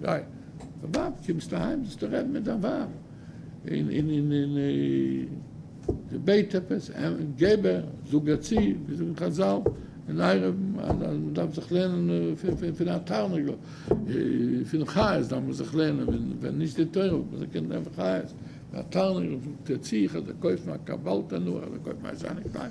גיי דיין ווייב קומסט אהיים זאלסטו רעדן מיט דיין ווייב אין אין אין אין זי בעט עפעס געב איר זאג איר צו ווי זאגן חזל אין עירוב אז מען דארף זיך לערנען פון א תרנגל פון חיות דארף מען זיך לערנען ווען נישט די תורה וואלט מען זיך געקענט לערנען פון חיות פון א תרנגל זאגט איר צו איך וועל דיר קויפן א קאווע אלטע נאר איך וועל קויפן א שיינע קלייד.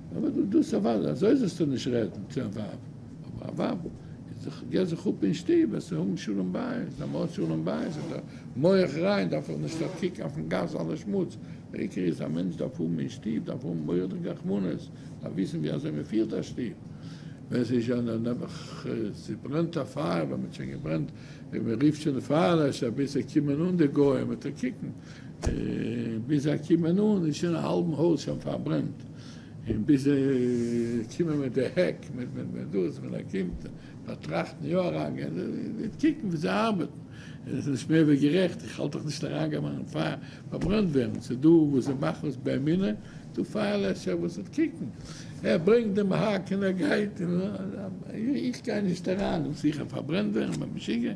אבער דו דאס א ווייל אזוי זאלסטו נישט רעדן צו א ווייב, אבער א ווייב איז דאך געבט זיך אפ אין שטוב, עס האבן שלום בית, אז מ'האט שלום בית איז דער מח ריין, דארף איך נישט אויף קוקן אויפן גאס אלע שמוץ, דער עיקר איז א מענטש דארף האבן אין שטוב, דארף האבן מוראדיג רחמנות, דארף וויסן ווי אזוי מ'פירט א שטוב, ווען ס'איז שוין נעבעך ס'ברענט א פייער, ווען מ'האט שוין געברענט, ווען מ'רופט שוין די פייערלעשער ביז זיי קומען אן די גוים, מ'טאר קוקן ביז זיי קומען אן איז שוין א האלבן הויז שוין פארברענט. און ביז זיי קומען מיט די העק, מיט דאס, ווען ער קומט באטראכטן יא אריינגיין, זיי קוקן ווי זיי ארבעטן, און עס איז נישט מער ווי גערעכט, איך האלט דאך נישט אריינגיין מיין פייער פארברענט ווערן, ס'איז דא וואס זיי מאכן עס באמונה, דא פייער לעשער וואס וועט קוקן, ער ברענגט דעם העק און ער גייט, איך גיי נישט אריין און זיכער פארברענט ווערן ביי משוגע,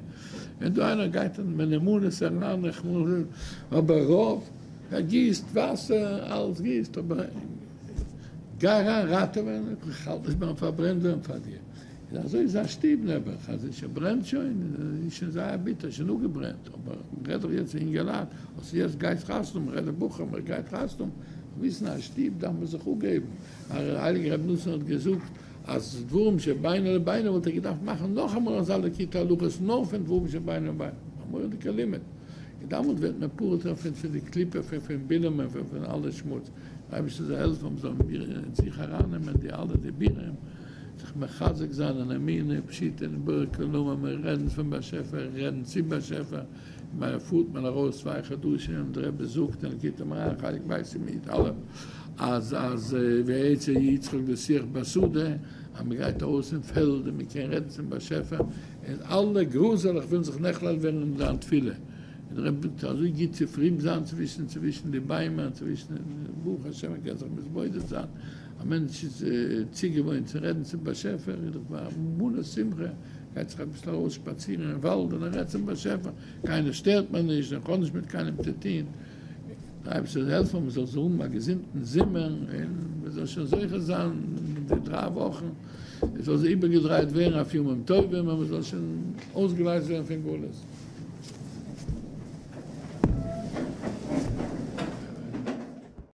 ווען דא איינער גייט מיט אמונות אריין, אבער רוב. ער גיסט וואסער, אלעס גיסט, אבער גיי אריין ראטעווען, איך האלט נישט ביים פארברענט ווערן פאר דיר. און אזוי איז זיין שטוב נעבעך, אז עס ברענט שוין, איז שוין זייער ביטער, שוין אפגעברענט, אבער מען רעדט דאך יעצט פון יונגעלייט, אז יעצט גייסט חתונה מאכן, רעדט דער בחור, מען גייט חתונה מאכן, וויסן אז שטוב דארף מען זיך אפגעבן, הייליגער רבי נתן האט געזאגט, אז דברים שבינו לבינו וואלט ער געדארפט מאכן נאכאמאל אזא ליקוטי הלכות נאר פון דברים שבינו לבינו, א מורא'דיגע לימוד, און דאמאלט ווערט מען פטור זיך פון פון די קליפה פון פון בינען און פון פון אלע שמוץ, דער אייבערשטער זאל העלפן מיר זאלן מיר אין זיך אריינעמען די אלע דיבורים, זיך מחזק זיין אין אמונה פשיטא אין בורא כלומר, מיר רעדן פון באשעפער, רעדן צום באשעפער, אין מיינע פארט מען ארויס צוויי חדשים, דער רבי זאגט אין ליקוטי מוהר ח, איך ווייס אים מיט אלעם, אז אז ויצא יצחק בשיח בשדה, אז מען גייט ארויס אין פעלד און מען קען רעדן צום באשעפער, און אלע גראזעלעך ווילן זיך נכלל ווערן אין זיין תפילה, און דער רבי זאגט אזוי גוט צו פרום זיין צווישן צווישן די ביימער, צווישן ברוך השם מען קען זיך מתבודד זיין, א מענטש איז צוגעוואוינט צו רעדן צום באשעפער, איז דאך א מלא שמחה, גייט זיך אביסל ארויס שפאצירן אין וואלד און ער רעדט צום באשעפער, קיינער שטערט מיר נישט און כ'האב נישט מיט קיינעם צו טון, דער אייבערשטער זאל העלפן מען זאל האבן א געזונטן זומער און מען זאל שוין זוכה זיין אין די דריי וואכן עס זאל זיך איבערגעדרייט ווערן אויף ימים טובים און מען זאל שוין אויסגעלייזט ווערן פון גלות.